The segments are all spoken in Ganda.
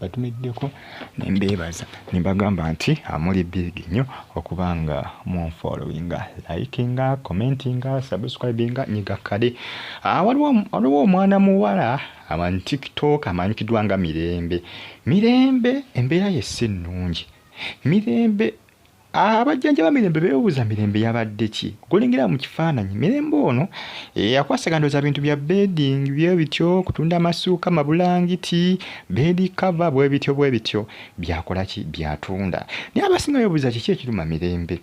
batumiddeko ne mbeebaza ne mbagamba nti amuli big nnyo okuba nga munfollowinga likinga commentinga subscribinga nyiga kale ah, waliwo omwana muwala aman tiktok amanyikiddwa nga mirembe mirembe embeera ye si nnungi mirembe Abajjanjaba Mirembe beebuuza Mirembe yabadde ki gwolengera mu kifaananyi. Mirembe ono eyakwasagana ndowooza bintu bya bedding bye bityo, kutunda amasuuka, mabulangiti, beedi kava bwe bityo bwe bityo byakola ki byatunda. Naye abasinga beebuuza kiki ekiruma Mirembe.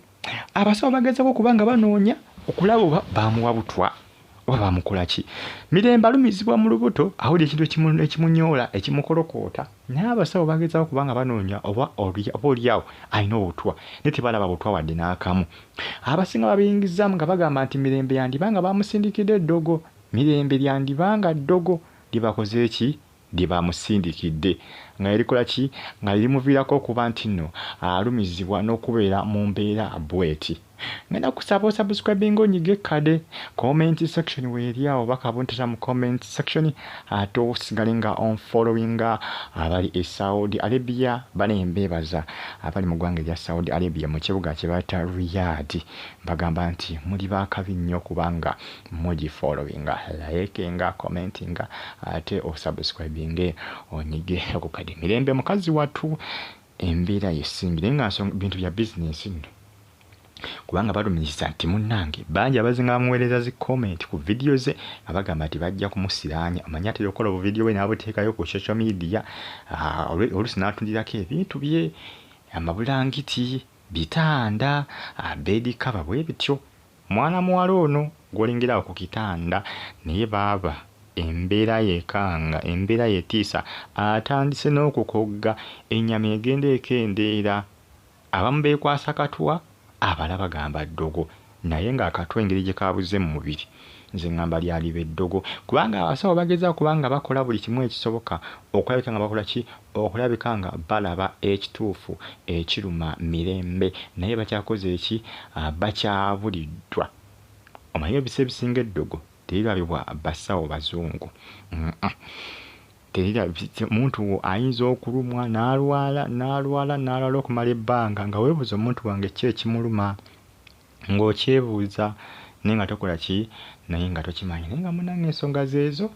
Abasawo bagezaako okuba nga banoonya okulaba oba baamuwa butwa oba bamukola ki mirembe alumizibwa mu lubuto awulira ekintu ekimunyoola ekimukolokoota naye abasawo bagezaako kubanga banoonya oba oba olyawo alina obutwa naye tebalaba butwa wadde n'akamu abasinga babiyingizaamu nga bagamba nti mirembe yandiba nga bamusindikidde eddogo mirembe lyandiba nga ddogo libakoze ki lye baamusindikidde nga ne likola ki nga lye limuviirako okuba nti nno alumizibwa n'okubeera mu mbeera bweti. Ngenda kusaba osubscribinge onyige kkade comment section weeri awo oba kabuntita mu comment section ate osigale nga on followinga abali e Saudi Arabia bane mbeebaza abali mu ggwanga erya Saudi Arabia mu kibuga kye bayita Riyadh mbagamba nti muli baakabi nnyo kubanga mugi followinga, layekinga, commentinga ate osubscribinge onyige akukade mirembe mukazi watu embera yesimbi naye nga bintu bya business nno kubanga balumiriza nti munnange bangi abazinga bamuweereza zi comment ku vidiyo ze nga bagamba nti bajja kumusiraanya omanyi atera okukola obuvidiyo bwe n'abuteekayo ku social media ah, oluusi n'atundirako ebintu bye amabulangiti bitanda ah, beedi kaba bwe bityo Mwana muwala ono gwolengera awo ku kitanda naye baaba embeera yekanga, embeera yetiisa atandise n'okukogga, ennyama egenda ekendeera, abamu beekwasa katwa abalala bagamba ddogo naye ng'akatwa engeri gye kaabuzze mu mubiri nze ngamba lyaliba eddogo kubanga abasawo bagezaako kuba nga bakola buli kimu ekisoboka okulabika nga bakola ki? okulabika nga balaba ekituufu ekiruma Mirembe naye bakyakoze ki bakyabulidwa omanyi ebisa ebisinga eddogo terirabibwa basawo bazungu omuntu wo ayinza okulumwa nalwala nalwala nalwala okumala ebbanga nga webuuza omuntu wange ki ekimuluma. ng'okyebuuza naye nga tokola ki naye nga tokimanyi naye nga munange ensonga zeezo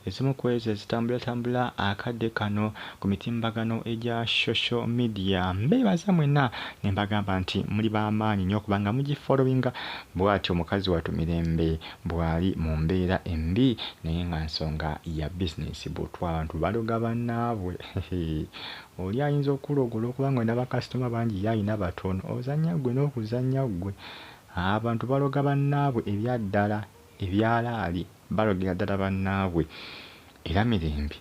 ezimu ku ezo ezitambulatambula akadde kano ku mitimbagano egya social media mbeebaza mwena ne mbagamba nti muli b'amaanyi nnyo kubanga mugifolowinga bwatyo mukazi watu mirembe bwali mu mbeera embi naye nga nsonga ya bizinensi butwa abantu baloga bannaabwe Oli ayinza okukuloga olwokuba ngolina ba customer bangi ye alina batono. Ozanya gwe nokuzanya gwe. Abantu baloga banaabwe ebyaddala ebyalaali balogera ddala banaabwe. Era Mirembe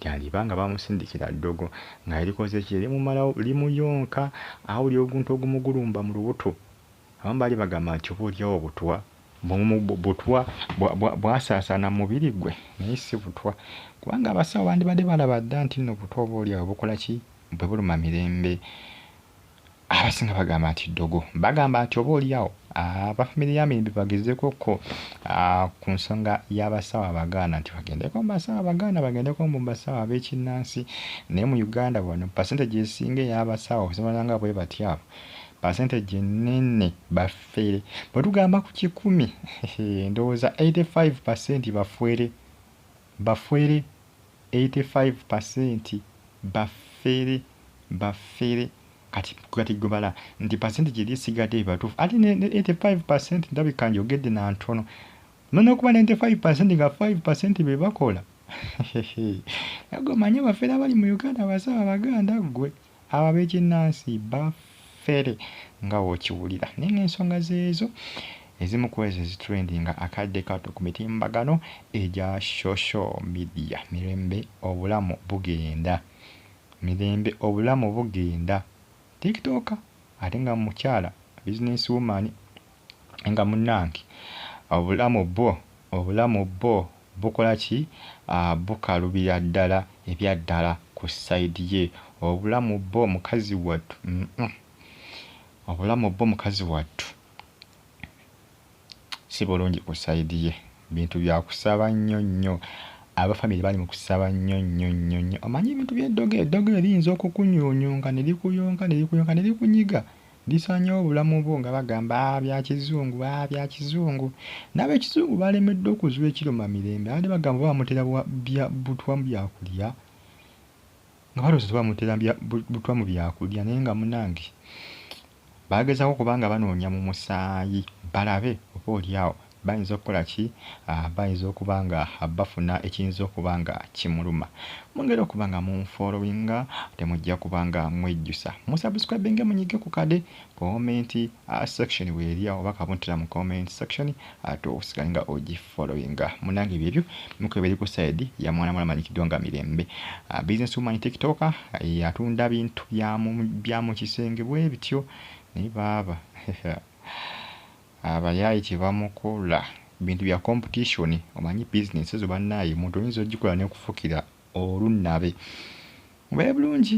gyaliba nga bamusindikira ddogo nga erikoze ki erimumalawo limuyonka awulira oguntu ogumugulumba mulubuto. Abamu baali bagamba nti oba olyawo butwa. butwa bwasaasaana mu mubiri gwe naye si butwa kubanga abasawo bandibadde balaba dda nti nno butwa oba oli awo bukola ki bwe buluma mirembe abasinga bagamba nti ddogo bagamba nti oba oliawo abafamire ah, ya mirembe bagezeko ko ah, ku nsonga y'abasawo abagaana nti bagendeko mu basawo abagaana bagendeko mu basawo ab'ekinnansi naye mu uganda wano pasente gyesinga ey'abasawo okusomala nga bwe batyaabo pasente gyenene bafe Fere. Bwe tugamba ku kikumi, ndowooza 85 percent bafwere. Bafwere. 85 percent bafere. Bafere. Kati, kati gwe bala, nti percent gyeri esigadde be batuufu. Ate ne, ne 85 percent ndabika njogedde na ntono. No nokuba 95 percent nga 5 percent be bakola. Nagwe omanyi abafere abali mu Uganda basaba Abaganda gwe. Abo ab'ekinnansi bafere nga bw'okiwulira. Naye ng'ensonga zeezo ezimu ku ezo ezitrendinga akadde kato ku mitimbagano egya shosho midiya. Mirembe obulamu bugenda. Mirembe obulamu bugenda. Tiktooka ate nga mukyala, bizinensi wumaani. nga munange obulamu bwo obulamu bwo bukola ki bukalubira ddala ebyaddala ku side ye obulamu bwo mukazi wattu uhmm obulamu bwo mukazi wattu sibulungi ku side ye bintu byakusaba nnyo nnyo aba family bali mukusaba nnyo nnyo nnyo nnyo omanyi ebintu bye ddogo eddogo eriyinza okukunyunyunga nerikuyonka nerikuyonka nerikunyiga. Gisaanyewo obulamu bwo nga bagamba aa bya kizungu, aa bya kizungu. N'abekizungu baalemeddwa okuzuula ekiruma Mirembe abadde bagamba oba bamutera wa bya butwa mu byakulya nga balowooza tebamutera mu bya butwa mu byakulya naye nga munange bagezaako kuba nga banoonya mu musaayi balabe oba olyawo Bayinza okukola ki? Bayinza okuba nga bafuna ekiyinza okuba nga kimuluma. Mwongere okuba nga munfollowinga ate mujja kuba nga mwejjusa mu subscribinge munyige ku kade comment section weeri awo oba kabuntira mu comment section ate osigale nga ogi followinga. Munange byebyo miko ebiri ku side ya mwana muwala amanyikiddwa nga Mirembe business woman tiktoker atunda bintu bya mu bya mu kisenge bwebityo naye baaba. Abayaye kyebamukola bintu bya competition omanyi business ezo banaye omuntu oyinza ojikola nekufukira olunnabe. Mubeere bulungi.